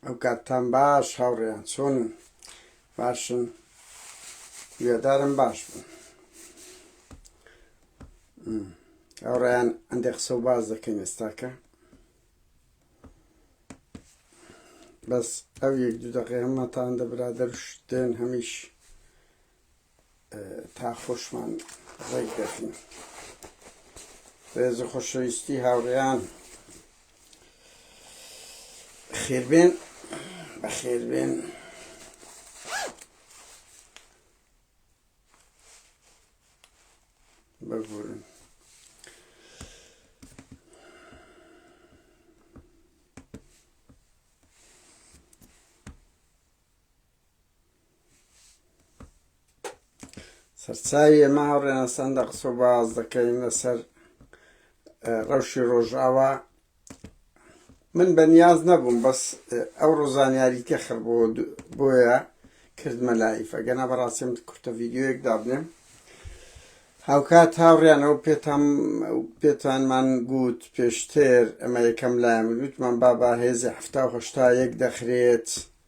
ئەو کاتتان باش هاوڕێیان چۆنن باشن وێدارم باش بوون هاوڕێیان ئەندێ قسە و باز دەکەین ئێستاکە بەس ئەو یەک دوو دەقێ هەمەتان دەبرادەر شتێن هەمیش تا خۆشمان ڕێک دەکەین ڕێزە خۆشەویستی هاوڕێیان خێربێن بە خێربێن ببورن سەرچاوی ئێمە هاوڕێیان سەندە قسە و باز دەکەین لەسەر ڕەوشی ڕۆژاوا من بە نیاز نەبووم بەس ئەو ڕۆزانیاری تێخڕ بۆ بۆیە کردمە لایف ئەگەنا بەڕاستیم کورتە ڤیددیوەیەک دابنێم هاوکات هاوڕیانەوە پێتان پێتانمان گوت پێشتر ئەمە یەکەم لایم وتمان بابا هێزی هەفتاهشتا یەک دەخرێت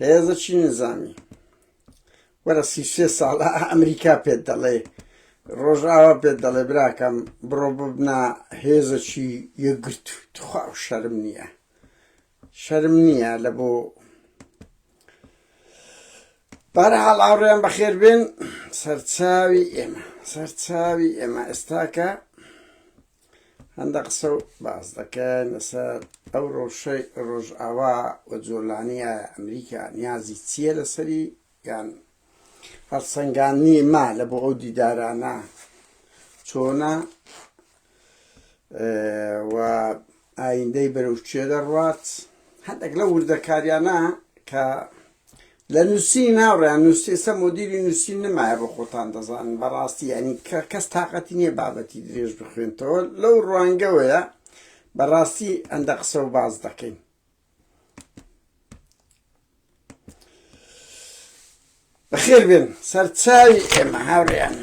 هێزە چی نزانی وەرە سی سێ ساڵ ئەمریکا پێت دەڵێ ڕۆژاوا پێت دەڵێ براکەم بڕۆ ببنا هێزە چی یەگرت تخوا و شەرم نییە شەرم نییە لە بۆ بەرحاڵ ئاڕێن بەخێر بێن سەرچاوی ئێمە سەرچاوی ئێمە ئێستاکە هەندە قسە و باس دەکەن لەسەر ئەو ڕۆژەی ڕۆژئاوا و جۆلانیە ئەمریکا نیازی چییە لەسەری یان هەڵسەنگانی ما لە بۆ ئەو دیدارانە چۆنە و ئایندەی بەرەو چێ دەڕوات هەندێک لە وردەکاریانە کە لە نوسینی ناوڕێیان نوسیسە مۆدیلی نوسین نمایە بۆ خۆتان دەزانن بەڕاستی یانی کە کەس تااقەتی نییە بابەتی درێژ بخوێنتەوە لەو ڕوانگەوەیە بەڕاستی ئەندە قسە و باز دەکەین بەخێر بێن سەرچاوی ئێمە هاوڕێیان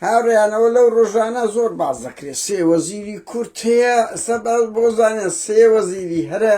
هاوڕێیانەوە لەو ڕۆژانە زۆر باز دەکرێت سێ وەزیری کورت هەیە سەباز بۆ زانێن سێ وەزیری هەرە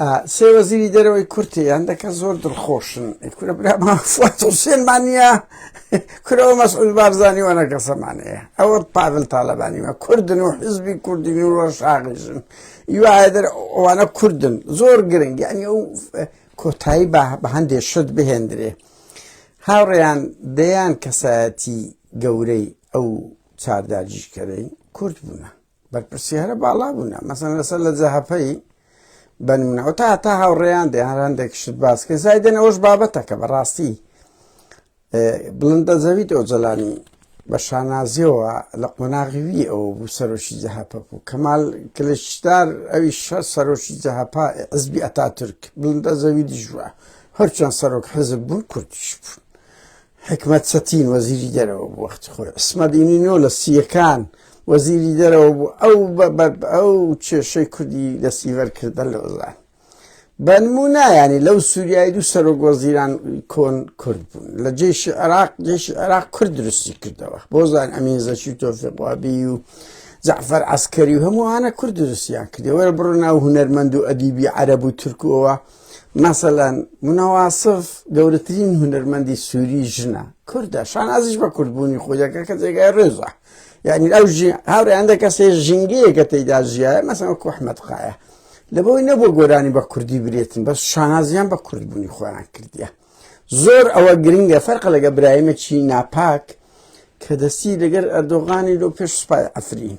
ئا سێ وەزیری دەرەوەی کورتێ یان دەکە زۆر دڵخۆشن کورە برا مافوات حوسێنمان نییە کورەوە مەسعود بارزانی وانە کەسەمانەیە ئەوە پاڤل تاالبانیمە کوردن و حزبی کوردی نووە شاغیژن یواە دەر ئەوانە کوردن زۆر گرنگ یعنی ئەو کۆتایی بە هەندێ شت بهێندرێ هاوڕێیان دەیان کەسایەتی گەورەی ئەو چارداجیشکەرەی کورد بوونە بەرپرسیارە باڵا بوونە مەسەن لەسەر لە جەهەپەی بەنمونەوە تا تا هاوڕێیان دێ هەر هەندێک شت باسکە زایدن ئەوش بابەتەکە بەڕاستی بڵندە زەوی دۆجلانی بە شانازیەوە لە قۆناغیوی ئەو بوو سەرۆکی جەهەپە بوو کەمال کلشدار ئەوی شە سەرۆکی جەهەپا عزبی ئەتا تورک بڵندە زەوی دژوە هەرچەند سەرۆک حزب بوون کوردیش بوون حیکمەت چەتین وەزیری دەرەوە بوو وەختی خۆی، عیسمەت ئینینۆ لە سییەکان وەزیری دەرەوە بوو، ئەو بە بە ئەو کێشەی کوردی دەستیبەر کرد بە لۆزان. بە نموونە یانی لەو سووریای دوو سەرۆک وەزیران کۆن کورد بوون، لە جێشی عێراق جێشی عێراق کورد دروستی کردەوە، بۆ زان ئەمین زەکی و تۆفیق وابی و جەعفەر عەسکەری و هەمووانە کورد دروستیان کردی، وەرە بڕۆ ناو هونەرمەند و ئەدیبی عەرەب و تورک و ئەوە مەسەلەن منە واسف گەورەترین هونەرمەندی سووری ژنە کوردە شانازیش بە کوردبوونی خۆی دەکە کە جێگای ڕێزە یعنی ئەو هاورێندە کەسێ ژنگەیەکە تێدا ژیە مەسەوە کوحمەد قاە لە بۆی نەبوو گۆرانی بە کوردی برێتن بەس شانازیان بە کوردبوونی خۆیان کردیە زۆر ئەوە گرنگە فەرق لەگە برایمە چی ناپاک کە دەستی لەگەر ئەردۆغانی لۆ پێش سوپای ئەفرین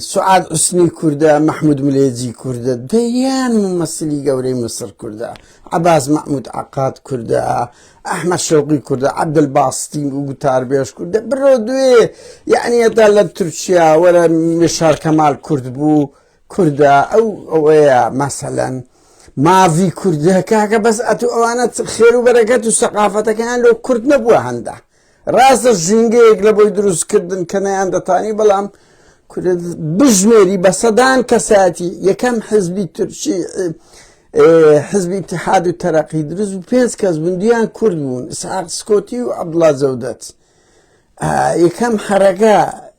سعاد عسنی کوردە مححمود ملێجی کوردە دەیان مەسلی گەورەی مسر کوردە عباس مححمود عقات کوردە ئەحمە شوقی کوردە عبدل باستی و گوتاربێش کوردە بڕۆ دوێ یعنی ئەدا لە تورکیا وەرە مشار کەمال کورد بوو کوردە ئەو ئەوەیە مەسەلەن ماڤی کوردە کاکە بەس ئەتو ئەوانە خێر و بەرەکەت و سەقافەتەکەیان لۆ کورد نەبووە هەندە ڕاستە ژینگەیەک لە بۆی دروستکردن کە نەیاندەتانی بەڵام بژمێری بە سەدان کەساتی یەکەم حزبی تورکی حزبی اتحاد و تەرەقی دروست و پێنج کەس بندیان کورد بوون ساق سکۆتی و عبدڵا زەودەت یەکەم حرەکە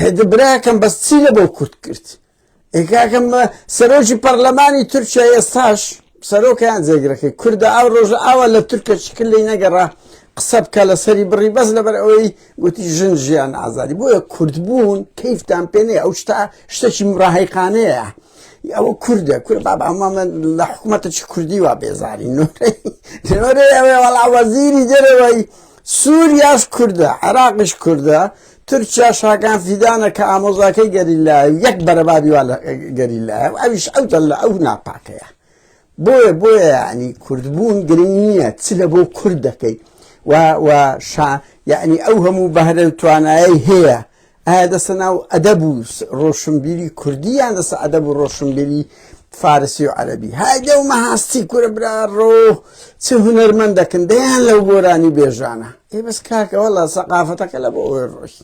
ئەدە براکەم بەس چی لە بۆ کورد کرد ئێکاکەم سەرۆکی پەرلەمانی تورکیا ئێستاش سەرۆکیان جێگرەکەی کوردە ئەو ڕۆژە ئاوا لە تورکە شکل لی نەگەڕا قسە بکە لە سەری بڕی بەس لەبەر ئەوەی گوتی ژن ژیان ئازادی بۆیە کوردبوون کەیفتان پێێ ئەو شتا شتەکی مڕاهیقانەیە ئەوە کوردە کورد باب ئەمە لە حکوومەتە چ کوردی وا بێزاری نۆرەی نۆرەی ئەوێ وەڵا وەزیری دەرەوەی سوریاش کوردە عێراقیش کوردە تورکیاش هاکان فیدانە کە ئامۆزاکەی گەریلایە و یەک بەرەبابی وا لە گەریلایە و ئەویش ئەو دەل لە ئەو ناپاکەیە بۆیە بۆیە ینی کوردبوون گرنگ نییە چ لە بۆ کورد دەکەی و شا یعنی ئەو هەموو بەهرە توانایی هەیە ئایا دەستە ناو ئەدەب و ڕۆشنبیری کوردی یان دەستە ئەدەب و ڕۆشنبیری فارسی و عەرەبی های دەو مەهاستی کورە برا ڕۆ چ هونەرمەندەکن دەیان لەو گۆرانی بێژانە ئێ بەس کاکە وەڵا سەقافەتەکە لە بۆ ئەوێ ڕۆی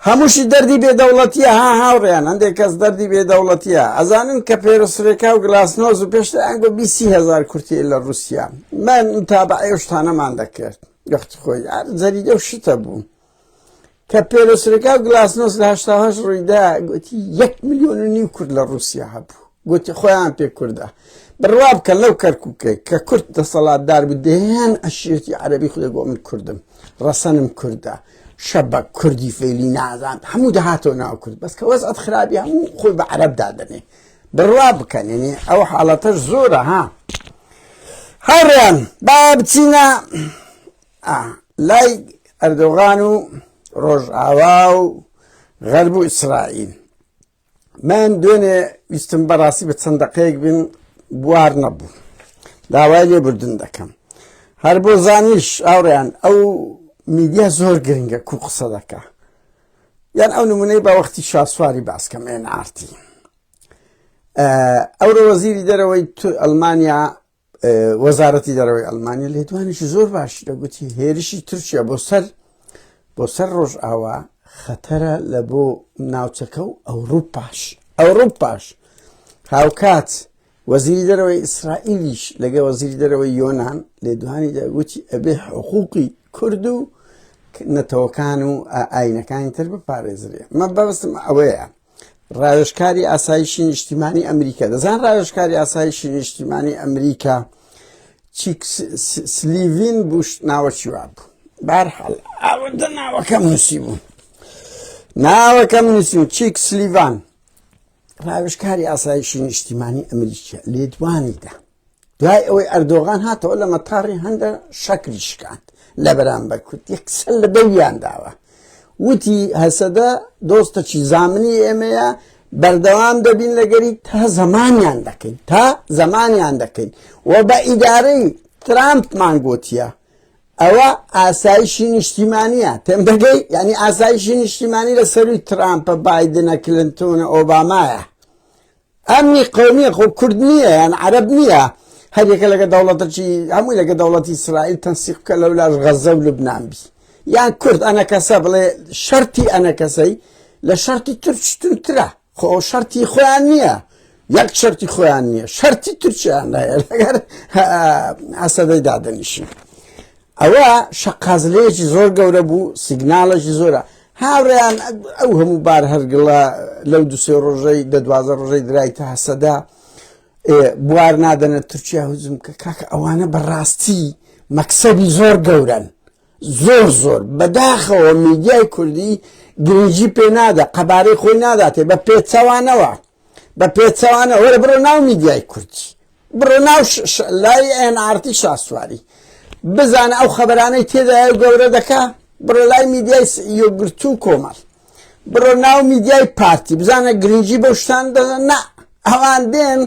هەمووشی دەردی بێدەوڵەتیە ها هاوڕێیان هەندێک کەس دەردی بێدەوڵەتیە ئەزانن کە پێرسرێکا و گلاسنۆز و پێشتر ئەنگۆ بیسی هزار کورتی لە رووسیا من تابعێشتانەمان دەکرد گەخت خۆی جەریدە و شتە بوو کە پێرۆسرەکە و گلاسنۆس لە هشتاهش ڕوویدا گوتی یەک میلیۆن و نیو کورد لە رووسیا هەبوو گوتی خۆیان پێ کووردە بڕوا بکە لەو کەرککە کە کورد دەسەڵاتدار بدەیان ئەشێتی عەربی خودێ بۆ من کوردم ڕەسەنم کووردە شەبە کوردی فێلی نازان هەموو دەهاتەوە ناو کورد بەس کە وەز ئەت خراپی هەموو خۆی بە عەرب دادنێ بڕوا بکەنێنێ ئەو حاڵەتە زۆرە ها هەڕیان با بچینە ئا لای ئەردۆغان و ڕۆژئاوا و غەرب و ئیسرائیل من دوێنێ ویستم بەڕاستی بە چەند دەقەیەک بیم بوار نەبوو داوای لێ بردن دەکەم هەر بۆ زانیش ئاوڕیان ئەو میدیا زۆر گرنگە کو قسە دەکە یان ئەو نمونەی بە وەختی شاسواری باسکەم ئێن ئارتی ئەورە وەزیری دەرەوەی ئەلمانیا وەزارەتی دەرەوەی ئەلمانیا لێدوانێکی زۆر باشی دەگوتی هێرشی تورکیا بۆ سەر بۆ سەر ڕۆژ ئاوا خەتەرە لە بۆ ناوچەکە و ئەوروپاش ئەوروپاش هاوکات وەزیری دەرەوەی ئیسرائیلیش لەگە وەزیری دەرەوەی یۆناان لێدوانی دەگوتی ئەبێ حقوقی کورد و نەتەوەکان و ئاینەکانی تر بپارێزرێ مە بەستم ئەوەیە ڕاوێژکاری ئاسایشی نیشتیمانی ئەمریکا دەزان ڕاوێژکاری ئاسایشی نیشتیمانی ئەمریکا سلیڤین بوش ناوەکی وا بوو بارحاڵ ئاوەدە ناوەکەم نووسی بوو ناوەکەم نووسیم چیک سلیڤان ڕاوێژکاری ئاسایشی نیشتیمانی ئەمریکا لێدوانیدا دوای ئەوەی ئەردۆغان هاتەوە لە مەتاڕی هەندە شەکری شکاند لە بەرامبەر کورد یەکسەر لە دەویان داوە وتی هەسەدە دۆستەکی زامنی ئێمەیە بەردەوام دەبین لەگەری تا زەمانیان دەکەین تا زەمانیان دەکەین و بە ئیدارەی ترامپمان گوتیە ئەوە ئاسایشی نیشتیمانیە تێم دەگەی ینی ئاسایشی نیشتیمانی لە سەروی ترامپە بادنە کلنتونە ئۆبامایە ئەمنی قەومیە خۆ کورد نییە یان عەرەب نییە هەر یەکە لەگە دەوڵەتەکی هەمووی لەگە دەوڵەتی ئیسرائیل تەنسیق بکە لەو لاش غەزە و لوبنان بی یان کورد ئەنەکەسە بڵێ شەرتی ئەنەکەسەی لە شەرتی ترچترترە خۆ شەرتی خۆیان نییە یەک شەرتی خۆیان نییە شەرتی ترچیان لەگەر ئەسەدەی دادەنیشی ئەوە شەقازلەیەکی زۆر گەورە بوو سیگنالێکی زۆرە هاوڕێیان ئەو هەموو بار هەرگڵە لەو دو سێ ڕۆژەی دە دوازە ڕۆژەی درایتە هەسەدا بوار نادەنە تورکیا هزم کە کاکە ئەوانە بەڕاستی مەکسەبی زۆر گەورن زۆر زۆر بەداخەوە میدیای کوردی گرنگی پێ نادە قەبارەی خۆی ناداتێ بە پێچەوانەوە بە پێچەوانە وەرە بڕۆ ناو میدیای کوردی بڕۆ ناو لای ئەن ئارتی شاسواری بزانە ئەو خەبەرانەی تێدایە و گەورە دەکا بڕۆ لای میدیای یۆگرتو و کۆمەڵ بڕۆ ناو میدیای پارتی بزانە گرنگی بەو شتان دەزە نا ئەوان دێن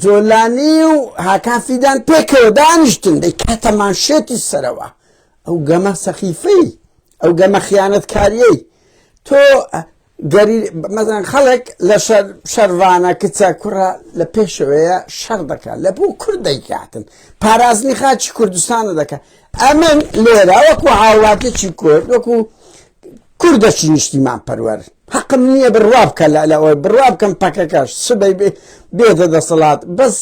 جۆلانی و هاکان فیدان پێکەوە دانیشتن دەی کاتەمان شێتی سەرەوە ئەو گەمە سەخیفەی ئەو گەمە خیانەتکاریەی تۆ مەسەلەن خەڵک لە شەر شەرڤانە کچە کوڕە لە پێشەوەیە شەڕ دەکات لە بۆ کورد دەیکاتن پارازنی خاچی کوردستانە دەکات ئەمن لێرە وەکو هاوڵاتێکی کورد وەکو کوردەکی نیشتیمان پەروەر حەقم نییە بڕوا بکە لە لە ئەوەی بڕوا بکەم پەکەکەش سبەی بێتە دەسەڵات بەس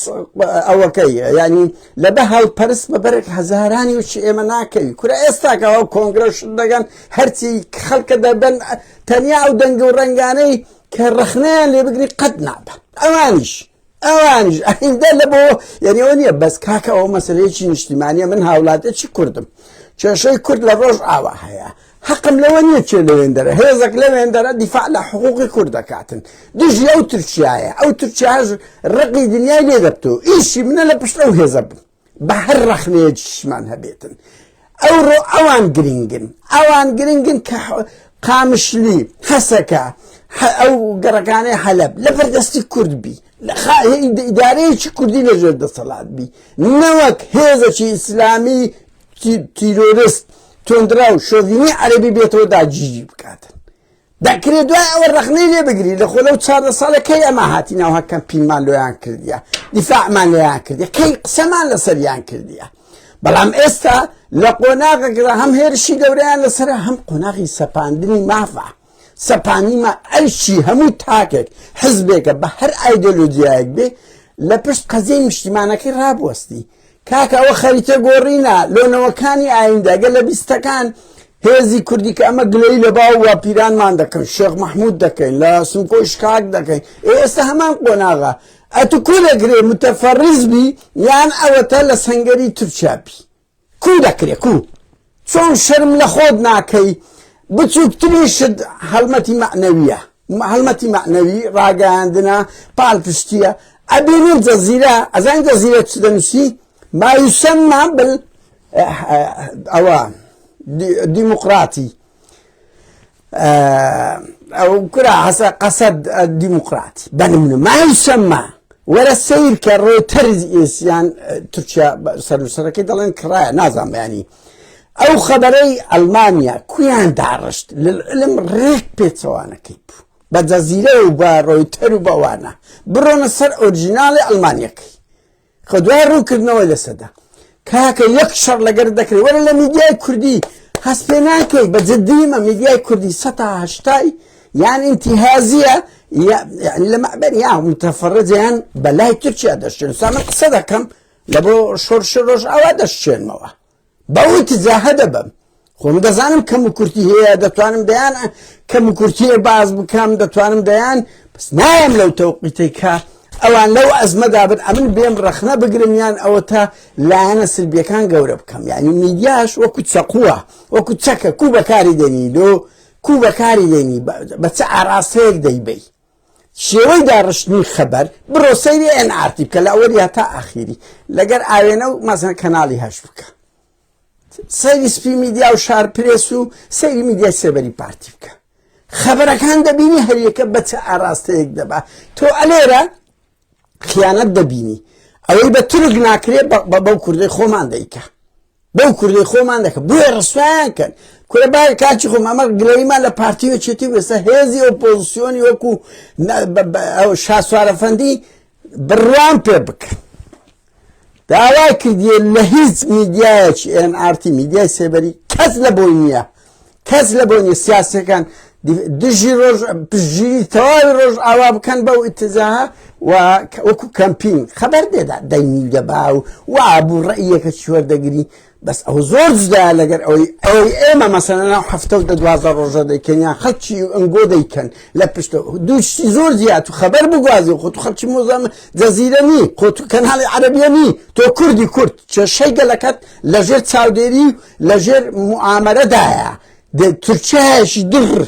ئەوەکەی ینی لە بە هەڵ پەرست بە بەرێک هەزارانی و چ ئێمە ناکەوی کورە ئێستاکە ئەو کۆنگرە شت دەگەن هەرچی خەڵکە دەبن تەنیا ئەو دەنگ و ڕنگانەی کە ڕخنەیان لێ بگری قەت نابە ئەوانیش ئەوانیش ئەهیندە لە بۆ یعنیەوە نیە بەس کاکەەوە مەسلەیەکی نیشتیمانە من هاوڵاتێکی کوردم کێشەی کورد لە ڕۆژ ئاوا هەیە هەقم لەوە نیە کێ لەوێندەرە هێزەک لەوێندەرە دیفاع لە حقوقی کورد دەکاتن دژی ئەو تورکیایە ئەو تورکیاش ڕقی دنیای لێ دەبتەوە ئیشی منە لە پشت ئەو هێزە بم بە هەر ڕەخنەیەکیشمان هەبێتن ئەوڕۆ ئەوان گرنگن ئەوان گرنگن کە قامشلی حەسەکە ئەو گەڕەکانەی حەلب لە بەردەستی کورد بی لە ئیدارەیەکی کوردی لەژێر دەسەڵات بی نەوەک هێزەکی ئیسلامی تیرۆرست تۆندرا و شۆڤینی عەرەبی بێتەوە داگیری بکاتن دەکرێت دوای ئەوە ڕخنەی لێ بگری لە خۆ لەو چاردە ساڵەکەی ئەمە هاتی ناوها کەمپینمان لۆیان کردیە دیفاعمان لێیان کردی کەی قسەمان لەسەریان کردیە بەڵام ئێستا لە قۆناغەکەدا هەم هێرشی گەوریان لەسەر هەم قۆناغی سەپاندنی مافە سەپانیمە ئەرشی هەموو تاکێک حزبێکە بە هەر ئایدۆلۆژیایەک بێ لە پشت قەزیی نیشتیمانەکەی ڕابوەستی کاکە ئەوە خەریتە گۆڕینە لۆ نەوەکانی ئایندە گە لە بیستەکان هێزی کوردی کە ئەمە گلەی لە باو و پیرانمان دەکەن شێخ مححمود دەکەین لە سمکۆ شکاک دەکەین ئێستا هەمان قۆناغا ئەتو کو دەکرێ متەفەڕیزبی یان ئەوەتە لە سنگەری تورکیابی کو دەکرێ کو چۆن شەرم لە خۆت ناکەی بچوکترینشت هەڵمەتی مەعنەویە هەڵمەتی مەعنەوی ڕاگەیاندنە پالپشتیە ئەبینین جەزیرە ئەزانین جەزیرە چ دەنووسی ما یسمما بل ئەوە دیموقراتی ئەو کورا حەسە قەسەد دیموکراتی بەنمونە مایل شەممە وەرە سیر کە ڕۆی تەرز ئێسیان تورکیا سەرسەرەکەی دەڵێن کڕایە نازان بەیانی ئەو خەبەرەی ئەلمانیا کویان داڕشت لەلم ڕێک پێچەوانەکەی بوو بە جەزیرە و بە ڕۆیتەر و بەوانە بڕۆنە سەر ئۆرجیناڵی ئەلمانیەکەی خۆ دوای ڕوونکردنەوەی لەسەدا کاکە یەک شەڕ لەگەر دەکرێت وەرە لە میدیای کوردی هەست پێ ناکەی بە جدیمە میدیای کوردی سەتا هەشتای یان ئینتیهازیە لە مەبەر یا متەفەڕجیان بەلای تورکیا دەشتێن سامە قسە دەکەم لە بۆ شۆرش ڕۆژ ئاوا دەشتێنمەوە بەوت جاهە دەبم خۆم دەزانم کەم و کورتی هەیە دەتوانم دەیان کەم و کورتیە باز بکەم دەتوانم دەیان بەس نایم لەو تەوقیتەی کە ئەوان لەو ئەزمەدا بن ئەمن بێم ڕەخنە بگرم یان ئەوە تا لایەنە سلبیەکان گەورە بکەم یعنی میدیاش وەکو چەقووە وەکو چەکە کو بەکاری دەنی لۆ کو بەکاری دێنی بە چ ئاراستەیەک دەیبی شێوەی داڕشتنی خەبەر بڕۆ سەیری ئێن ئارتی بکە لە ئەوەلیا تا ئاخیری لەگەر ئاوێنە و مەزن کەناڵی هەش بکە سەیری سپی میدیا و شار پرێس و سەیری میدیای سێبەری پارتی بکە خەبەرەکان دەبینی هەریەکە بە چ ئاراستەیەک دەبا تۆ ئەلێرە خیانەت دەبینی ئەوەی بە تورک ناکرێت بە بەو کوردی خۆمان دەیکە بەو کوردی خۆمان دەکەن بۆیە ڕسوایان کەن کورە با کاچی خۆم ئەمە گلەیمان لە پارتی و چێتی وێستا هێزی ئۆپۆزیسیۆنی وەکو شاسوارەفەندی بڕوان پێ بکەن داوای کردیە لە هیچ میدیایەکی ئێن ئارتی میدیای سێبەری کەس لە بۆی نییە کەس لە بۆ نیە سیاسەکان دژی ڕۆژ پژگیری تەواوی ڕۆژ ئاوا بکەن بەو ئتزا وەکو کەمپین خەبەر دێدا دەنگی دەبا و وابوو ڕێیەکە چی وەردەگری بەس ئەو زۆر جدا لەگەر ئەوەی ئەوەی ئێمە مەسەنە ناو هەفتە و دەدوازە ڕۆژە دەکەن یا خەلکی ئەنگۆ دەیکەن لە پشتە دووشتی زۆر زیات و خەبەر بگوازی خۆ تو خەلکی مۆزەم جەزیرە نی خۆ تو کەناڵی عەربیە نی تۆ کوردی کورد کێشەی گەلەکەت لەژێر چاودێری لەژێر موعامەرەدایە تورکایەکی دڕ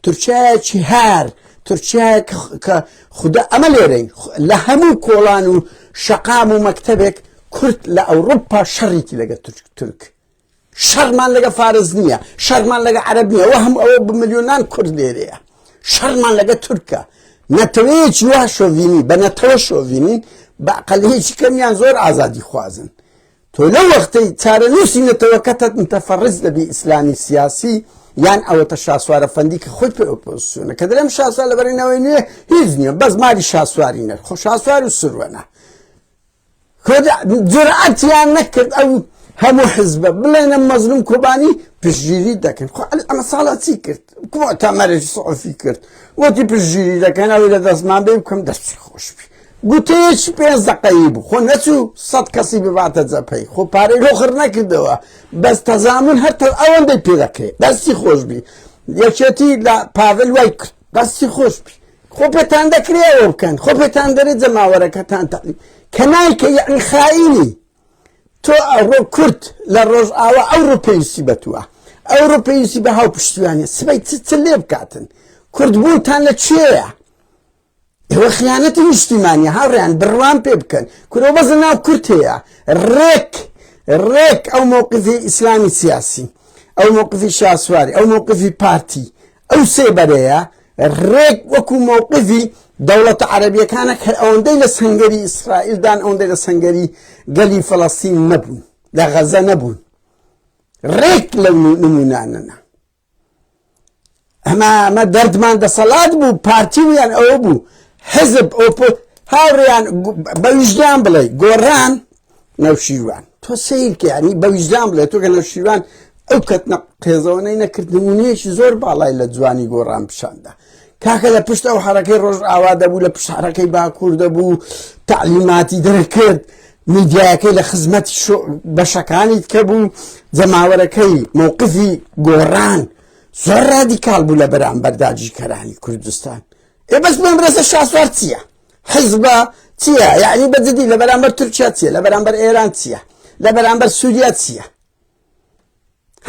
تورکایەکی هار تورکایەک کە خوددا ئەمە لێرەین لە هەموو کۆڵان و شەقام و مەکتەبێک کورت لە ئەوروپا شەڕیکی لەگە تورک تورک شەرمان لەگە فارز نییە شەرمان لەگە عەرب نیە وە هەم ئەوە بملیۆنان کورد لێرەیە شەرمان لەگە تورکە نەتەوەیەکی وا شۆڤینی بە نەتەوە شۆڤینین بە قەلەیەکی کەمیان زۆر ئازادی خوازن تۆ لەو وەختەی چارەنووسی نەتەوەکەتت متەفەڕج دەبی ئیسلامی سیاسی یان ئەوەتە شاسوارە فەندی کە خۆی پێ ئۆپۆزسیۆنە کە دەلێم شاسوار لە بەرەینەوەی نوێ هیچ نییە بەس ماری شاسواری نەر خۆ شاسوار و سروەنە جورعەتیان نەکرد ئەو هەموو حزبە بڵێنە مەزلوم کۆبانی پشگیری دەکەن خۆ ئەمە ساڵا چی کرد تا مەرەی سعفی کرد وەتی پشگیری دەکەن ئەوی لە دەستمان بێ بکەم دەستی خۆشبی گوتەیەکی پێنج دەقەیی بوو خۆ نەچوو سەد کەسی بباتە جەپەی خۆ پارەی لۆ خڕ نەکردەوە بەس تەزامن هەر تە ئەوەندەی پێ دەکرێت دەستی خۆش بی یەکێتی لە پاڤل وای کرد دەستی خۆش بی خۆ پێتان دەکرێ ئەوە بکەن خۆ پێتان دەرێت جەماوەرەکەتان تەقی کە نایکە یعنی خائینی تۆ ئەڕۆ کورد لە ڕۆژئاوا ئەو ڕوپێویستی بەتووە ئەو ڕوپێویستی بە هاو پشتیوانە سبەی چ لێ بکاتن کوردبوونتان لە کوێیە ئێوە خیانەتی نیشتیمانیە هاوڕێیان بڕوام پێ بکەن کورە بەس لە ناو کورت هەیە ڕێک ڕێک ئەو مووقفی ئیسلامی سیاسی ئەو مووقفی شاسواری ئەو مووقفی پارتی ئەو سێ بەرەیە ڕێک وەکو مووقفی دەوڵەتە عەربیەکانە کە ئەوەندەی لە سنگەری ئیسرائیلدان ئەوەندەی لە سنگەری گەلی فەڵەستین نەبوون لە غەزە نەبوون ڕێک لەو نمونانەنا ئەمە ئەمە دەردمان دەسەڵات بوو پارتیویان ئەوە بوو حزب ئۆپۆ هاوڕیان بە ویژدان بڵێ گۆڕان نەوشیروان تۆ سیرکە ینی بە ویژدان بڵێ تۆ گە نەوشیروان ئەو کەتنە قێزەوەی نەکردنمونەیەکی زۆر باڵای لە جوانی گۆڕان پیشاندا کاکە لە پشت ئەو حرەکەی ڕۆژ ئاوا دەبوو لە پشارەکەی باکوور دەبوو تعلیماتی دەرکرد میدیایەکەی لە خزمەت بەشەکانی کە بوو جەماوەرەکەی مووقفی گۆڕان زۆر ڕادیکال بوو لە بەرامبەر داگیرکەرانی کوردستان ئێ بەس بۆم ڕێزە شاسوار چییە حیزبە چییە یعنی بەجددی لە بەرامبەر تورکیا چییە لە بەرامبەر ئێران چییە لە بەرامبەر سووریا چییە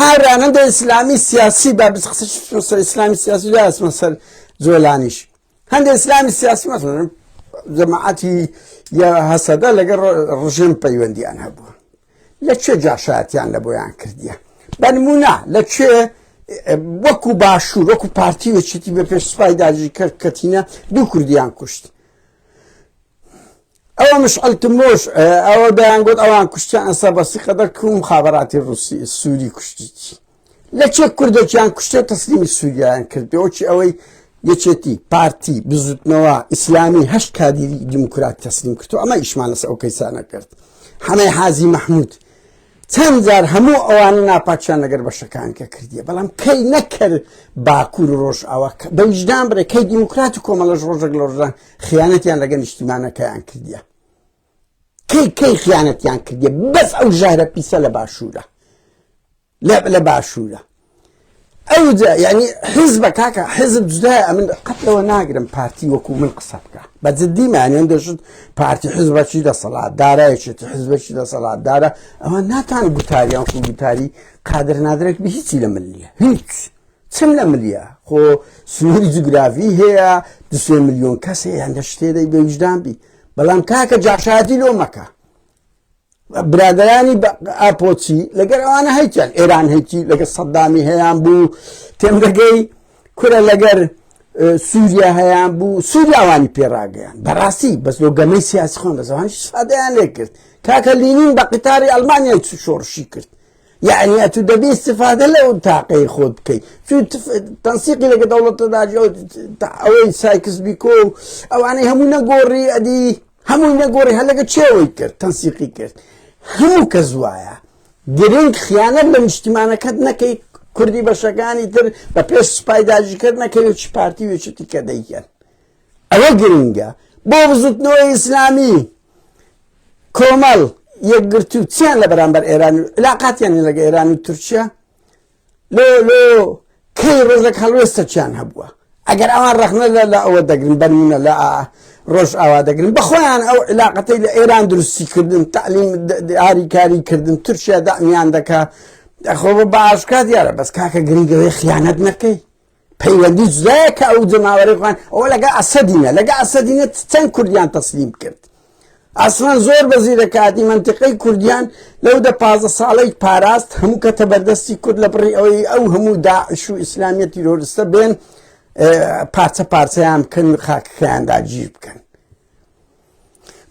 هاورانەندە ئیسلامی سیاسی بە بسقسە ئیسلامی سیاسی لە ئەسمە سەر جۆلانیش هەندێک ئیسلامی سیاسی مەسەن جەماعەتی یا هەسەدە لەگەڵ ڕژێم پەیوەندیان هەبووە لە چێ جاشاتیان لە بۆیان کردیە بەنمونە لە چێ وەکو باشوور وەکو پارتی وەچێتی بە پێش سوپای داجی کرد کەتینە دوو کوردیان کوشت ئەوە مشعل تمۆش ئەوە دەیان گوت ئەوان کوشتیان ئەسە بەسی قەدەر کوم مخابراتی ڕوسی سووری کوشتیی لە چێ کوردێکیان کوشتێ تەسلیمی سووریایان کردەوەکی ئەوەی یەکێتی پارتی بزوتنەوە ئیسلامی هەشت کادیری دیموکرات تەسلیم کردو ئەمە ئیشمان لەس ئەو کەیسانە کرد حەمەی حازی مححمود چەند جار هەموو ئەوانە ناپاکیان لەگەر بەشەکان کە کردیە بەڵام کەی نەکرد باکوور و ڕۆژ ئەوە بە ویژدان بڕێ کەی دیموکرات و کۆمەڵەش ڕۆژێک لۆژدان خیانەتیان لەگە نیشتیمانەکەیان کردیە کەی کەی خیانەتیان کردیە بەس ئەو ژارە پیسە لە باشوورە لە لە باشوورە ئەوجا یعنی حیزبە کاکە حیزب جدایە من قەت لەوە ناگرم پارتی وەکو من قسە بکە بە جددی مانیان دەشت پارتی حزبەکی دەسەڵات دارایەکێتی حزبەکی دەسەڵات دارە ئەوە ناتان گوتاریان خو گوتاری قادر نادرێک بە هیچی لە من نیە هیچ چم لە ملیە خۆ سنووری جوگرافی هەیە دوسێ میلیۆن کەس هەیە هەندە شتێدەی بەویژدان بی بەڵام کاکە جاشاتی لۆ مەکە برادرانی ئاپۆچی لەگەر ئەوانە هەیتیان ئێران هەیتی لەگە سەددامی هەیان بوو تێم دەگەی کورە لەگەر سووریا هەیان بوو سووریاوانی پێڕاگەیان بەڕاستی بەس لۆ گەمەی سیاسی خۆن بە زمانی سادەیان لێ کرد کاکە لینین بە قیتاری ئەلمانیای چ شۆڕشی کرد یعنی ئەتو دەبی استفادە لەو تاقەی خۆت بکەیت تەنسیقی لەگە دەوڵەتە داجی ئەوەی سایکس بیکۆ ئەوانەی هەموو نەگۆڕی ئەدی هەمووی نەگۆڕی هەر لەگە چێوەی کرد تەنسیقی کرد هەموو کە زوایە گرنگ خیانەت لە نیشتیمانەکەت نەکەی کوردی بەشەکانی تر بە پێش سپای داژیکرد نەکەوێت چ پارتی وێچتی کە دەیکەن ئەوە گرنگە بۆ بزوتنەوە ئیسلامی کۆمەڵ یەکگرتو چیان لە بەرامبەر ئێران علااقاتیان لەگە ئێران و تورکیا لۆ لۆ کەی ڕۆژەک هەڵوێستەکیان هەبووە ئەگەر ئەوان ڕەخنە لە لە ئەوە دەگرن بەرمونە لە ئا ڕۆژ ئاوا دەگرن بەخۆیان ئەو علااقەتەی لە ئێران دروستی کردن تعلیم دیاری کاری کردن تورکیا دامیان دەکە خۆ بە باشکات دیارە بەس کاکە گرنگەوەی خیانەت نەکەی پەیوەندی جدایە کە ئەو جەماوەری خۆیان ئەوە لەگە ئەسەدینە لەگە ئەسەدینە چەند کوردیان تەسلیم کرد ئاسمان زۆر بەزی دەکاتی منتیقەی کوردیان لەو دە پازە ساڵی پاراست هەموو کە تەبەردەستی کورد لە بڕی ئەوەی ئەو هەموو داعش و ئیسلامیە تیرۆرستە بێن پارچە پارچەیان بکەن و خاکەکەیان داگیر بکەن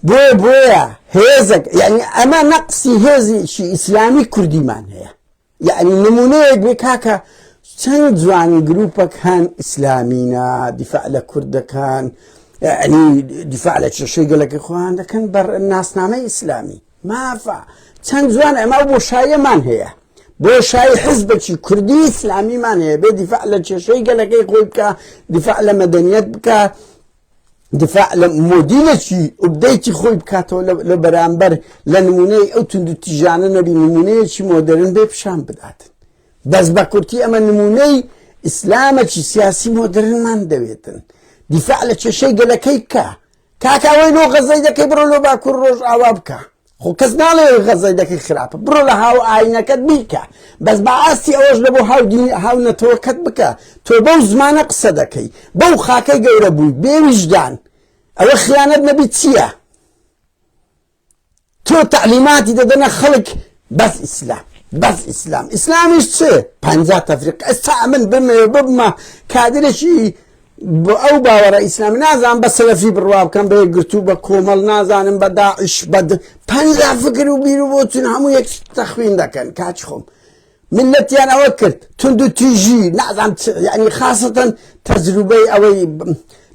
بۆیە بۆیە هێزەک یعنی ئەمە نەقسی هێزیشی ئیسلامی کوردیمان هەیە یەعنی نمونەیەک بێ کاکە چەند جوان گروپەکان ئیسلامینە دیفاع لە کورد دەکەن یعنی دیفاع لە کێشەی گەلەکە خۆیان دەکەن بە ناسنامەی ئیسلامی مافە چەند جوان ئەما بۆ شایەمان هەیە بۆ شای حزبەکی کوردی ئیسلامیمان هەیە بێ دیفاع لە کێشەی گەلەکەی خۆی بکە دیفاع لە مەدەنیت بکە دفاع لە مۆدیلێکی ئوبدەیتی خۆی بکاتەوە لە بەرامبەر لە نمونەی ئەو تونند و تیژانە نەبی نمونەیەکی مۆدرن بێ پیشان بدات بەس بە کورتی ئەمە نمونەی ئیسلامەکی سیاسی مۆدرنمان دەوێتن دیفاع لە کێشەی گەلەکەی بکە کاکاوەی لۆ غەزەی دەکەی بڕۆ لۆ باکوور ڕۆژ ئاوا بکە خۆ کەس ناڵێ ئەوەی غەزەی دەکەی خراپە بڕۆ لە هاو ئاینەکەت بیکە بەس با ئاستی ئەوەش لە بۆ هاو دین هاو نەتەوەکەت بکە تۆ بەو زمانە قسە دەکەی بەو خاکەی گەورە بووی بێ ویژدان ئەوە خیانەت نەبی چییە تۆ تعلیماتی دەدەنە خەڵک بەس ئیسلام بەس ئیسلام ئیسلامیش چ پ تەفریق ئێستا ئەمن بمێ ببمە کادرێکی بە ئەو باوەڕە ئیسلام نازان بە سەلەفی بڕوا بکەم بە یەکگرتو بە کۆمەڵ نازانم بە داعش بە پەنجا فکر و بیر و بۆچون هەموو یەک تەخوین دەکەن کاچ خۆم ملەتیان ئەوە کرد تونند و تیژی نازان ینی خاستن تەجروبەی ئەوەی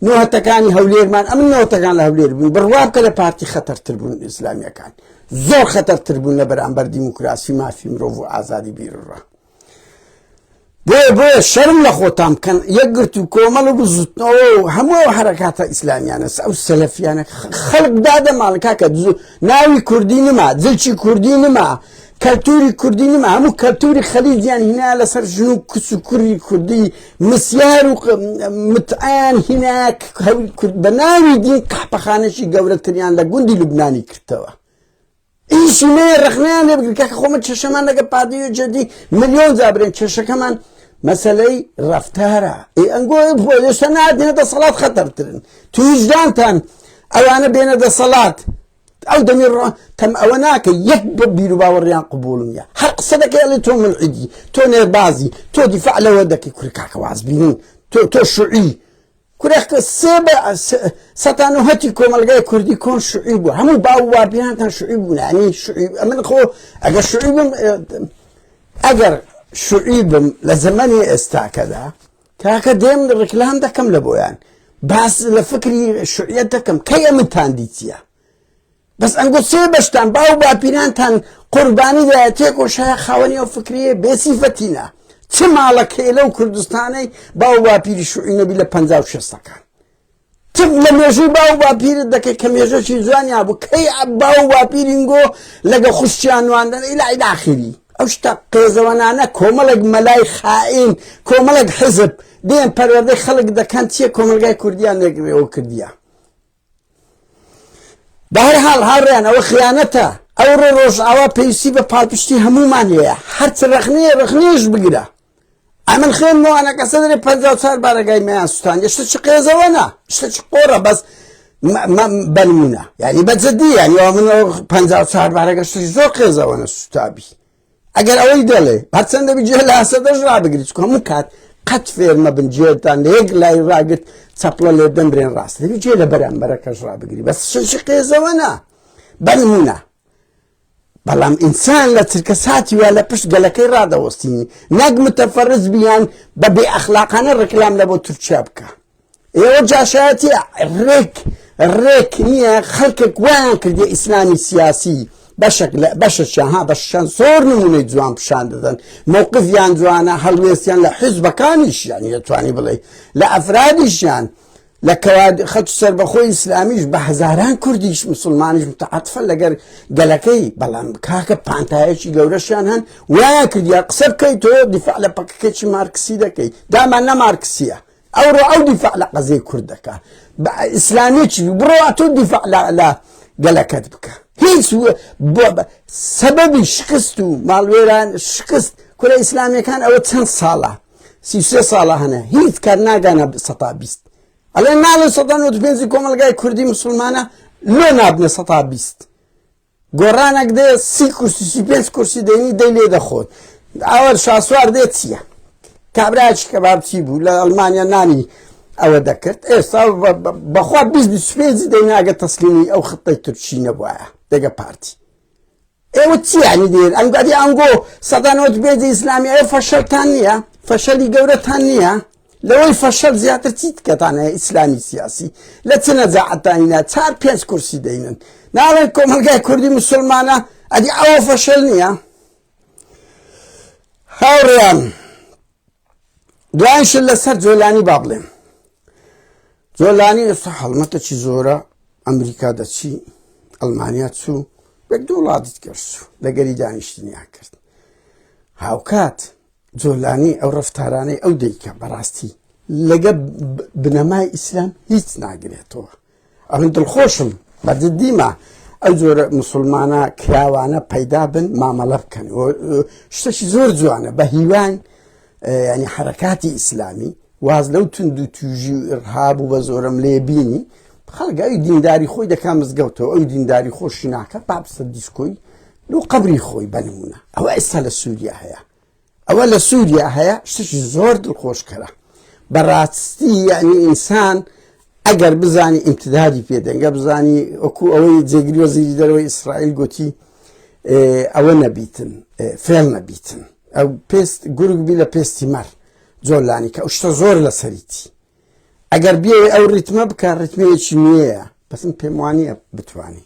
نۆهتەکانی هەولێرمان ئەم نۆتەکان لە هەولێر بوون بڕوا بکە لە پارتی خەتەرتر بوون ئیسلامیەکان زۆر خەتەرتر بوون لە بەرامبەر دیموکراسی مافی مرۆڤ و ئازادی بیرڕە بۆیە بۆیە شەرم لە خۆتان بکەن یەکگرت و کۆمەڵ و بزوتنەوە و هەموو ئەو حرەکاتە ئیسلامیانە ئەو سەلەفیانە خەڵک دادە ماڵکا کە ناوی کوردی نما جلچی کوردی نما کەلتوری کوردی نما هەموو کەلتوری خەلیجیان هینا لەسەر ژن و کچ و کوری کوردی مسیار و متعیان هینا کورد بە ناوی دین قحپەخانەشی گەورەتریان لە گوندی لوبنانی کردەوە ئیشی مەیە ڕخنەیان لێ بگرن کاکە خۆمە کێشەمان لەگە پادی و جدی ملیۆن جا برێن کێشەکەمان مەسلەی ڕفتارە ئێ ئەنگۆ ئێشتا نادێنە دەسەڵات خەتەرترن تو هیچدانتان ئەوانە بێنە دەسەڵات ئەو دەمی ڕۆ تەم ئەوە ناکە یەک بە بیر و باوەڕیان قوبولم یا هەر قسە دەکەی ئەڵێ تۆ من عیدی تۆ نێربازی تۆ دیفاع لەوە دەکەی کوری کاکە واز بینین تۆ تۆ شوعی کورە سێ بە سەتا نۆ هەتی کۆمەلگای کوردی کۆن شوعی بوو هەموو باو وابیانتان شوعی بوون ینی شوعی ئەمن خۆ ئەگە شوعی بم ئەگەر شوعی بم لە زەمەنی ئێستاکەدا کاکە دێم ڕکلام دەکەم لە بۆیان باس لە فکری شوعیت دەکەم کەی ئەمتان دیتیە بەس ئەنگۆ سێ بەشتان باو باپیرانتان قوربانی دایە تێکۆش هەیە خاوەنی ئەو فکریە بێسیفەتینە چ ماڵەکەی لەو کوردستانەی باو باپیری شوعینەبی لە پ شەستەکان تف لە مێژووی باو باپیرت دەکەی کە مێژەکی جوانیا بوو کەی باو باپیرینگۆ لەگە خوشتیان نواندن ئیلای داخری ئەو شتە قێزەوەنانە کۆمەڵێک مەلای خائین کۆمەڵێک حزب دێن پەروەردەی خەڵک دەکەن چیە کۆمەلگای کوردیان نەگرێەوە کردیە بەهەرحاڵ هاوڕێیان ئەوە خیانەتە ئەوڕۆ ڕۆژئاوا پێویستی بە پاڵپشتی هەمومان هەیە هەرچ ڕەخنەیە ڕەخنەیەش بگرە ئەمن خوێنمەوانە کە سەدرێ پ چار بارەگای میان سوستان یشتە چ قێزەوەنا شتە چ قۆڕە بەس بەنمونە یعنی بەجددی یعنی من پ چار بارەگەشتی زۆر قێزەوەە سوتابی ئەگەر ئەوەی دەڵێ هەرچەندە بجێ لە هەسەدەش ڕابگرت چکە هەموو کات قەت فێرمە بن جێتان لە یەک لای ڕاگرت چەپڵە لێ دەمرێن ڕاست دەبی جێ لە بەرامبەرەکەش ڕابگری بەس شەشی قێزەوە نا بەنمونە بەڵام ئینسان لە چرکە ساتی وە لە پشت گەلەکەی ڕادەوەستینی نەک متەفەرز بیان بە بێ ئەخلاقانە ڕکلام لە بۆ تورکیا بکە ئێوە جاشایەتی ڕێک ڕێک نییە خەڵکێک وایان کردی ئیسلامی سیاسی بەشێک لە بەشەشیان ها بەشیان زۆر نمونەی جوان پیشان دەدەن مووقفیان جوانە هەڵوێستیان لە حیزبەکانیشیان دەتوانی بڵێ لە ئەفرادیشیان لە کەواد خەت سربەخۆی ئیسلامیش بە هزاران کوردیش مسلمانیش متعاتفە لەگەر گەلەکەی بەڵام کاکە پانتایەکی گەورەشیان هەن وایە کردیا قسە بکەیت تۆ دیفاع لە پەکەکەی مارکسی دەکەیت دامان نە مارکسیە ئەوڕۆ ئەو دیفاع لە قەزیەی کورد دەکا بە ئیسلامیەکی بڕۆ ئەتۆ دیفاع لە گەلەکەت بکە هیچ سەبەبی شکست و ماڵوێران شکست کورە ئیسلامیەکان ئەوە چەند ساڵە سیسێ ساڵە هەنە هیچ کار ناگانە سەتا بیست ئەڵێ ناڵێ سەدان و پێنجی کۆمەلگای کوردی مسلمانە لۆ نابنە سەتا بیست گۆڕانەک دێ سی کورسی سی پێنج کورسی دەینی دەی لێ دەخۆن ئەوە شاسوار دێت چییە کابراچ کە بابچی بوو لە ئەلمانیا نانی ئەوە دەکرد ئێستا بەخوا پێنجی دەیناگە تەسلیمی ئەو خطەی تورکی نەبووە دەگە پارتی ئێوە چیانی دێن ئەنگادی ئەنگۆ سەدانەوە بێجی ئیسلامی ئەو فەشەتان نییە فەشەلی گەورەتان نییە لەوەی فەشەل زیاتر چیت کەتان هەیە ئیسلامی سیاسی لە چ نەجاعەتانینا چار پێنج کورسی دەینن ناڵێن کۆمەلگای کوردی مسلمانە ئەدی ئەوە فەشەل نییە هاوڕیان دوایش لەسەر جۆلانی با بڵێم جۆلانی ئێستا هەڵمەتە چی زۆرە ئەمریکا دەچی ئەلمانیا چوو بە دوو وڵاتت کەشت لەگەری دانیشتنیان کرد هاوکات جۆلانی ئەو ڕفتارانەی ئەو دەیکە بەڕاستی لەگە بنەمای ئیسلام هیچ ناگرێتەوە ئەمن دڵخۆشم بەددیمە ئەو جۆرە مسلمانە کراوانە پەیدا بن مامەڵە بکەن شتەشی زۆر جوانە بە هیوان ینی حرکاتی ئیسلامی واز لەو تونند و توژی و ئرهاب و بە زۆرم لێ بینی خەڵگەوی دینداری خۆی دەکا مزگەوتەوە ئەو دینداری خۆشی ناکە پاپسە دیسکۆی لو قبری خۆی بەنمونە ئەوە ئێستا لە سووریا هەیە ئەوە لە سووریا هەیە شتێکی زۆر دڵخۆشکەرە بەڕاستی یعنی ئینسان ئەگەر بزانی ئیمتدادی پێدەنگە بزانی وەکو ئەوەی جێگری وەزیری دەرەوەی ئیسرائیل گوتی ئەوە نەبیتن فێڵ نەبیتن ئەو پێست گورگ بی لە پێستی مەر جۆلانی کە شتە زۆر لە سەریتی ئەگەر بێ ئەو ریتمە بکە ریتمەیەکی نوێیە بەسم پێموانە بتانی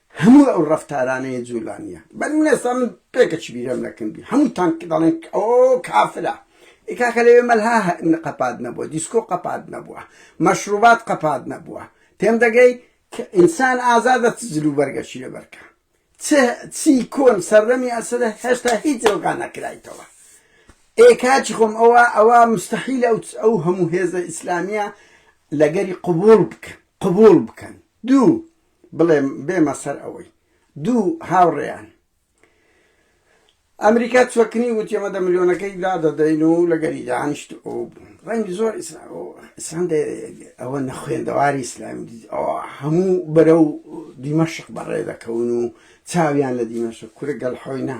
هەموو ئەو ڕەفتارانەی جولان یە بەر من ئێستا من پێکەچ بیرم لەکن بی هەموو تانک دەڵێن ئەو کافرە ئی کاکە لەوێ مەلها قەپات نەبووە دیسکۆ قەپات نەبووە مەشروبات قەپات نەبووە تێم دەگەی کە ئینسان ئازادە چ جل و بەرگەشی لە بەرکە چ چی کۆن سەردەمی ئەسرە هێشتا هیچ جۆگا نەکرایتەوە ئێ کاچی خۆم ئەوە ئەوە مستحیل ئەو ئەو هەموو هێزە ئیسلامیە لەگەری قبول بکەن قبول بکەن دوو بڵێم بێمە سەر ئەوەی دوو هاوڕێیان ئەمریکا چوەکنی وتی ئەمە دە ملیۆنەکەی دادەدەین و لەگەری دانیشت و ڕەنگی زۆر ئیسلام ئەوە نەخوێندەواری ئیسلام هەموو بەرە و دیمەشق بەڕێ دەکەون و چاویان لە دیمەشق کورە گەڵ حۆینا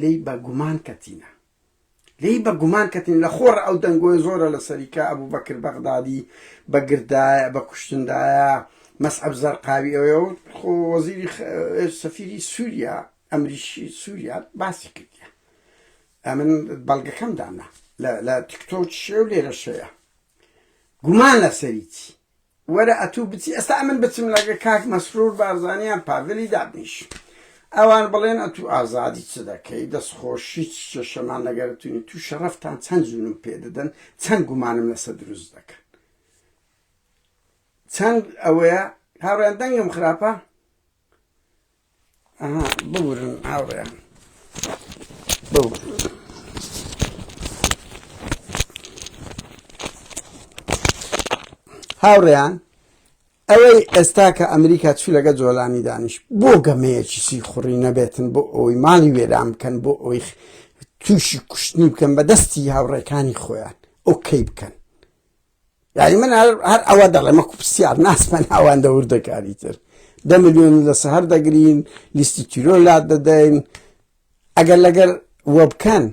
لێی بە گومان کەتینە لێی بە گومان کەتین لە خۆڕ ئەو دەنگۆی زۆرە لە سەریکە ئەبوو بەکر بەغدادی بە گردایە بە کوشتندایە مەسعب زەرقاوی ئەوەوە خۆ وەزیری سەفیری سووریا ئەمریشی سووریا باسی کردە ئەمن بەڵگەکەم دانا لە تیکتۆ شێو لێرە شەیە گومان لە سەریی وەرە ئەتوو بچی ئێستا ئەمن بچم لەگە کاک مەسرور بارزانی یان پاڤلی دابنیشم ئەوان بڵێن ئەتوو ئازادی چ دەکەی دەست خۆشی چ کێشەمان لەگەر تونی تو شەڕەفتان چەند جونم پێ دەدەن چەند گومانم لەسە دروست دەکەن چەند ئەوەیە هاوڕێیان دەنگم خراپە ئەها ببورن هاوڕێیان ببورن هاوڕێیان ئەوەی ئێستا کە ئەمریکا چی لەگە جۆلانی دانیش بۆ گەمەیەکی سی خوڕی نەبێتن بۆ ئەوی ماڵی وێران بکەن بۆ ئەوی تووشی کوشتنی بکەن بە دەستی هاوڕێکانی خۆیان ئەو کەی بکەن یاری من هەر هەر ئەوە دەڵێمە کوپسیار ناسمە ناواندە وردەکاری تر دە میلیۆن لە سەهر دەگرین لیستی تیرۆ لا دەدەین ئەگەر لەگەر وە بکەن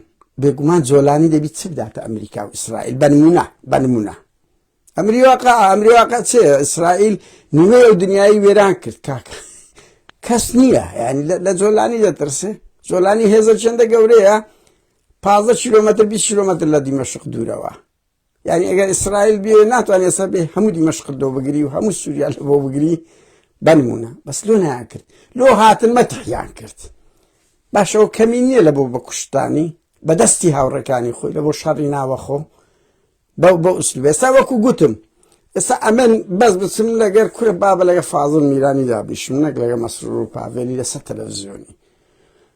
بێگومان جۆلانی دەبیت چ بداتە ئەمریکا و ئیسرائیل بەنمونە بەنمونە ئەمری واقع ئەمری واقع چێ ئیسرائیل نیمە و دنیای وێران کرد کاکە کەس نییە ینی لە جۆلانی دەترسێ جۆلانی هێزە چندە گەورەیە پازە کیلومتر 20 کیلومتر لە دیمەشق دوورەوە یعنی ئەگەر ئیسرائیل بێ ناتوانێت سەر بێ هەموو دیمەشقت لۆ بگری و هەموو سووریا لە بۆ بگری بەنمونە بەس لۆ نایان کرد لۆ هاتن مەتحیان کرد باشەوە کەمی نییە لە بۆ بە کوشتانی بەدەستی هاوڕەکانی خۆی لە بۆ شەڕی ناوەخۆ بەو بە ئوسل بێستا وەکو گوتم ئێستا ئەمن بەس بچم لەگەر کورە بابە لەگە فازل میرانی دابیشم نەک لەگە مەسرور و پاڤێنی لەسەر تەلەڤزیۆنی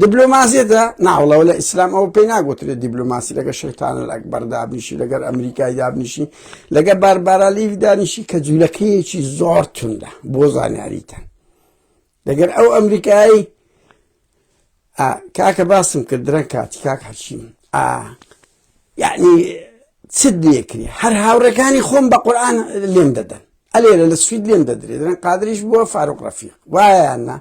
دبلۆماسیەتە ناوڵەوە لە ئیسلام ئەوە پێی ناگوترێت دیبلۆماسی لەگە شەیتانە لە ئەکبەر دابنیشی لەگەر ئەمریکای دابنیشی لەگە باربارالی دانیشی کە جوولەکەیەکی زۆر توندا بۆ زانیاریتە لەگەر ئەو ئەمریکایی کاکە باسم کرد درەنگ کاتی کاک هەچیم ئا یعنی چت نییە کری هەر هاوڕێکانی خۆم بە قورآان لێم دەدەن ئەلێرە لە سوید لێم دەدرێت دەن قادریش بووە فاروق ڕەفیق وایەنە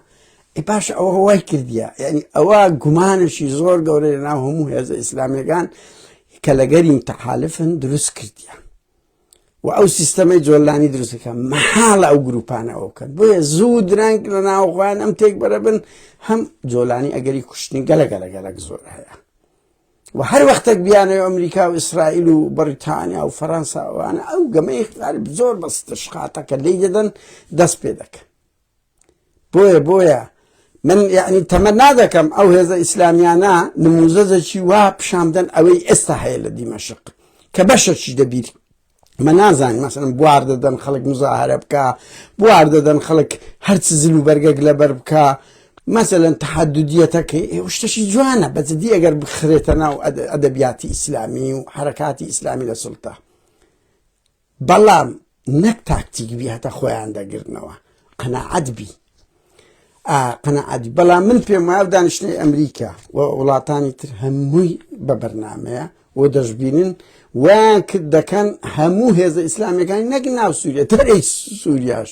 ئی پاش ئەوە وای کردیە یعنی ئەوە گومانشی زۆر گەورە لە ناو هەموو هێزە ئیسلامەکان کە لەگەرین تەحالفن دروست کردیە و ئەو سیستەمەی جۆلانی دروستەکە مەحاڵە ئەو گروپانەوە بکەن بۆیە زوو درەنگ لە ناوخۆیان ئەم تێک بەرەبن هەم جۆلانی ئەگەری کوشتنی گەلە گەلە گەلک زۆر هەیە و هەر وەختێک بیانەوە ئەمریکا و ئیسرائیل و بەریتانیا و فەرەنساوانە ئەو گەمەی غەرب زۆر بەستە شقاتەکە لێی دەدەن دەست پێ دەکەن بۆیە بۆیە من یعنی تەمە نادەکەم ئەو هێزە ئیسلامیانە نموزەزەکی وا پیشاندن ئەوەی ئێستا هەیە لە دیمەشق کە بەشەکی دەبیر مە نازان مەسەن بوار دەدەن خەڵک مزاهرە بکە بوار دەدەن خەڵک هەرچ زل و بەرگەک لەبەر بکە مەسەن تحددیەتەکەی شتەشی جوانە بەجددی ئەگەر بخرێتە ناو ئەدەبیاتی ئیسلامی و حرکاتی ئیسلامی لە سلتا بەڵام نەک تاکتیک بی هەتا خۆیان دەگرنەوە قەنەعەت بی قەنەعادی بەڵام من پێم وایە دانیشتنی ئەمریکا و وڵاتانی تر هەمووی بە بەرنمەیە و دەشببینن وان کرد دەکەن هەموو هێزە ئیسلامەکانی نەک ناو سووریە تەرەی سووریاش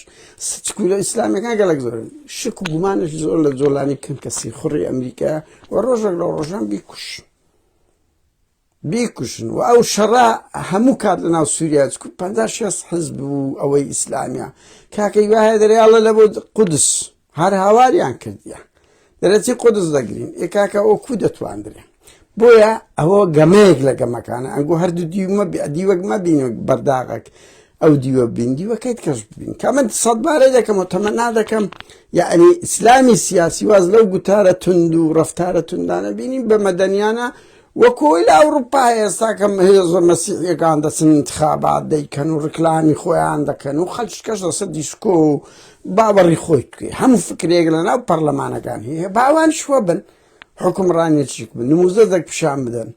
سچکولە ئیسلامەکان گەلک زۆر شک و گومانش زۆر لە جۆلانی کەم کەسی خوڕی ئەمریکا و ڕۆژێک لە ڕۆژان بیکوش. بیکوژن و ئەو شەڕە هەموو کات لە ناو سووریا چکو پەنجا شێست حزب و ئەوەی ئیسلامیە کاکەی وایە دەرێ ئەڵە لە بۆ قودس هەر هاواریان کردیە دەرەچی قودس دەگرین ئێ کاکە ئەو کو دەتواندرێ بۆیە ئەوە گەمەیەک لە گەمەکانە ئەنگۆ هەردوو دیومە دیوەک مەبین و بەرداغەک ئەو دیوە بین دیوەکەیت کەش ببین کە من سەد بارەی دەکەم و تەمە نادەکەم یعنی ئیسلامی سیاسی واز لەو گوتارە تونند و ڕفتارە توندانە بینین بە مەدەنیانە وەکو ئەوەی لە ئەوروپا هەیە ئێستا کە هێزە مەسیحیەکان دەچن ئینتخابات دەیکەن و ڕیکلامی خۆیان دەکەن و خەلچکەش لەسەر دیسکۆ و باوەڕی خۆی توێ هەموو فکرێک لەناو پەرلەمانەکان هەیە با ئەوانیش وەبن حوکمڕانێتیک بن نموزەدەک پیشان بدەن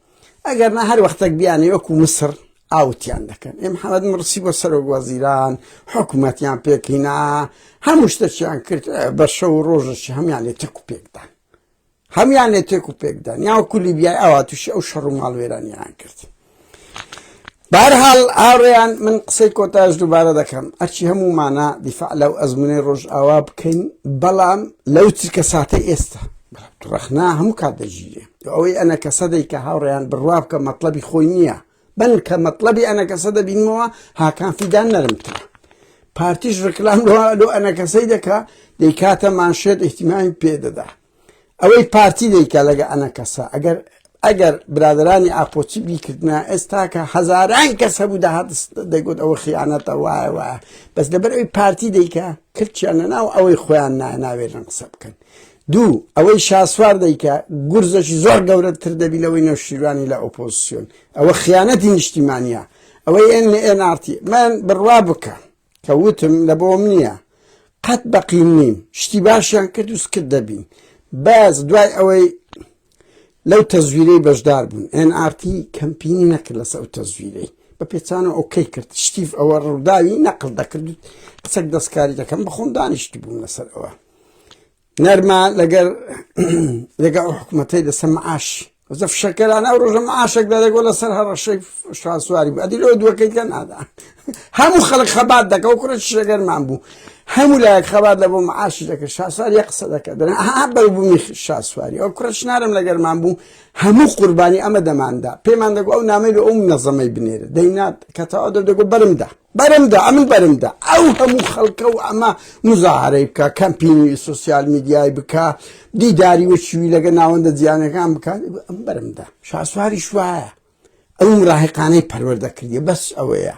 ئەگەر نا هەر وەختەک بیانێ وەکو مسر ئاوتیان دەکەن ئێ محەمەد مڕسی بۆ سەرۆک وەزیران حکوومەتیان پێکینا هەموو شتەکیان کرد بە شەو ڕۆژەکی هەمان لێ تەک و پێکدان هەموان لێ تێک و پێکدان یاوەکو لیبیای ئاوا تووشی ئەو شەڕ و ماڵوێرانیان کرد بارحاڵ ئاڕێیان من قسەی کۆتاش دووبارە دەکەم ئەرچی هەموومانە دیفاع لەو ئەزمونەی ڕۆژ ئاوا بکەین بەڵام لەو چرکە ساتە ئێستا ڕخنا هەموو کات دەژیرێ ئەوەی ئەنە کە سەدەی کە هاوڕێیان بڕوا بکە مەطلبی خۆی نییە بەن کە مەطلبی ئەنەکەسە دەبینمەوە هاکان فیدان نەرمترە پارتیش ڕکلام لۆ ئەنەکەسەی دەکا دەیکاتە مانشێت ئیحتیمامی پێدەدا ئەوەی پارتی دەیکا لەگە ئەنەکەسە ئەگەر ئەگەر برادرانی ئاپۆچی بیکردە ئێستاکە هەزاران کەس هەبوو داهات دەگوت ئەوە خیانەتە وایە وایە بەس لەبەر ئەوی پارتی دەیکە کردچیان لە ناو ئەوەی خۆیان ناوێرن قسە بکەن دوو، ئەوەی شاسوار دەیکا گورزەکی زۆر گەورەتر دەبی لەوەی نەوشیروانی لە ئۆپۆزسیۆن، ئەوە خیانەتی نیشتیمانیە، ئەوەی ئێن لە ئێن ئار تی من بڕوا بکە کە وتم لە بۆم نیە قەت بەقین نیم شتی باشیان کرد و سکت دەبین بەس دوای ئەوەی لەو تەزویرەی بەشدار بوون ئێن ئار تی کەمپینی نەکرد لەسە ئەو تەزویرەی بە پێچانە ئۆکەی کرد شتیف ئەوە ڕووداوی نەقل دەکرد قسەک دەستکاری دەکەم بەخۆم دانیشتی بووم لەسەر ئەوە نەرمە لەگەر لەگە ئەو حکوومەتەی لەسەر معاش زە فشەکەرانە ئەو ڕۆژە معاشێک دەدەگۆ لەسەر هەڕەشەی شاسواری بەدی لۆ دووەکەی کە نادا هەموو خەڵک خەبات دەکە و کوڕە شەگەرمان بوو هەموو لایەک خەبات لە بۆ معاشی دەکە شاسوار یە قسە دەکە دەن ئەها بەربوومی شاسواری ئەو کوڕە شنارم لەگەرمان بوو هەموو قوربانی ئەمە دەماندا پێمان دەگو ئەو نامەی لە ئەو نەزەمەی بنێرە دەینات کەتەوا دەدەگو بەرمدا بەرمدا ئەمن بەرمدا ئەو هەموو خەڵکە و ئەمە مزاهرەی بکە کەمپینی سوسیال میدیای بکە دیداری وەچوی لەگە ناوەندە جیانەکان بکات ئەم بەرمدا شاسواری شوایە ئەو مراهقانەی پەروەردەکردی بەس ئەوەیە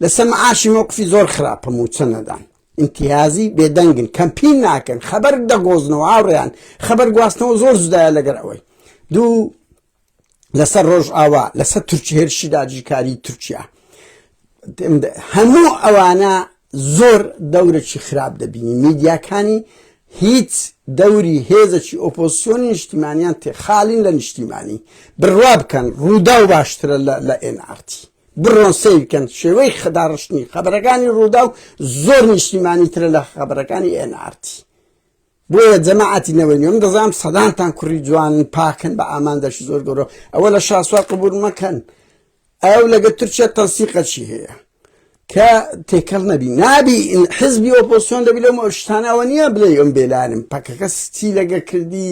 لە سەمعاشی مەوقفی زۆر خراپە موچە نەدان امتیازی بێدەنگن کەمپین ناکەن خەبەر دەگۆزنەوە هاوڕیان خەبەر گواستنەوە زۆر زدایە لەگەر ئەوەی دوو لەسەر ڕۆژئاوا لەسەر تورکی هێرشی داجیکاری تورکیا هەموو ئەوانە زۆر دەورێکی خراپ دەبینی میدیاکانی هیچ دەوری هێزەکی ئۆپۆسیۆن نیشتیمانیان تێ خاڵین لە نیشتیمانی بڕوا بکەن ڕوودا و باشترە لە NRT بڕۆن سیرکەن شێوەی خداڕشتنی خەبەرەکانی ڕوودا و زۆر نیشتیمانی ترە لە خەبەرەکانی NRT بۆیە جەماعەتی نەوەی نوێ من دەزانم سەدانتان کوڕی جوانن پاکن بە ئامانجێکی زۆر گەورە ئەوە لە شاسوار قبول مەکەن ئەو لەگە تورکیا تەنسیقەچی هەیە کە تێکەڵ نەبی نابی حزبی ئۆپۆسیۆن دەبی لەم شتانەوە نییە بڵێ ئەم بێلانم پەکەکە ستی لەگە کردی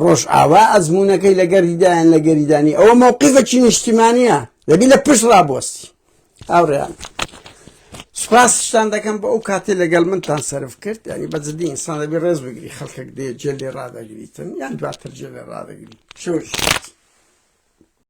ڕۆژئاوا ئەزمونونەکەی لەگەریدایان لەگەریدانی ئەوە مووقیفەکی نیشتیمانە دەبی لە پشت ڕابوەستی هاوڕێیان سوپاستان دەکەم بۆ ئەو کاتێ لەگەڵ منتان سرف کرد ینی بەجددی ئینسان دەبی ڕێز بگری خەڵکێک دێ جێ لێ ڕدەگریتن یان دواتر جێ لێ ڕدەگری شوش